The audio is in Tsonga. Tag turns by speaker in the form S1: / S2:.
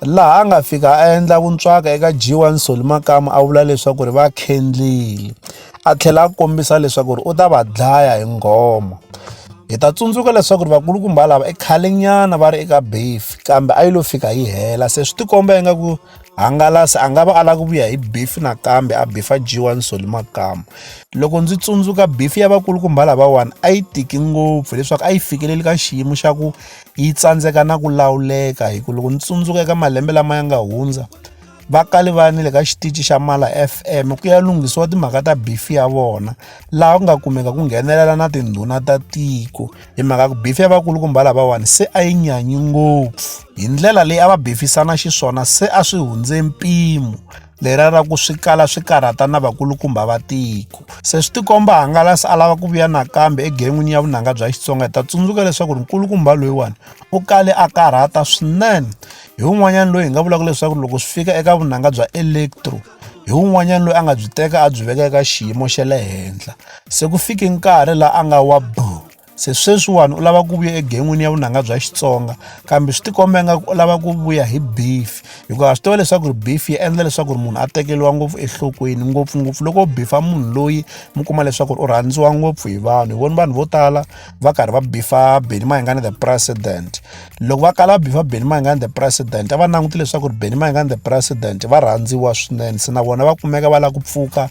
S1: laha a nga fika a endla vuntswaka eka G1 Solly Makamu a vula leswaku ri va khendlile a tlhela a kombisa leswaku ri u ta va dlaya hi nghoma hi ta tsundzuka leswaku ri vakulukumba lava i khalenyana va ri eka beef kambe a yi lo fika yi hela se swi tikomba ingaku hangalasi a nga va a lava ku vuya hi beef nakambe a bifa G1 Solly Makamu loko ndzi tsundzuka beef ya vakulukumba lavawani a yi tiki ngopfu leswaku a yi fikeleli ka xiyimo xa ku yi tsandzeka na ku lawuleka hi ku loko ni tsundzuka eka malembe lama ya nga hundza va kale va ni le ka xitichi xa mala fm ku ya lunghisiwa timhaka ta bifi ya vona laha ku nga kumeka ku nghenelela na tindhuna ta tiko hi mhaka ku bifi ya vakulukumba lavawani se a yi nyanyi ngopfu hi ndlela leyi a va bifisana xiswona se a swi hundze mpimo lera ra ku swi kala swi karhata na vakulukumba va tiko se swi tikomba hangalasi a lava ku vuya nakambe egen'wini ya vunanga bya xitsonga hi ta tsundzuka leswaku ri nkulukumba loyiwani u kale a karhata swinene hi un'wanyana loyi hi nga vulaka leswaku loko swi fika eka vunanga bya electro hi un'wanyana loyi a nga byi teka a byi veka eka xiyimo xa le henhla se ku fike nkarhi laha a nga wa boo se sweswiwani u lava ku vuya egen'wini ya vunanga bya xitsonga kambe swi tikomba nga u lava ku vuya hi beef hikuva swi tiva leswaku ri beef yi endla leswaku ri munhu a tekeriwa ngopfu enhlokweni ngopfungopfu loko u bifa munhu loyi mi kuma leswaku ri u rhandziwa ngopfu hi vanhu hi voni vanhu vo tala va karhi va bifa beni mayingani the president loko va kala va bifa beni mayingani the president a va languti leswaku ri beni mayingani the president va rhandziwa swinene se na vona va kumeka va lava ku pfuka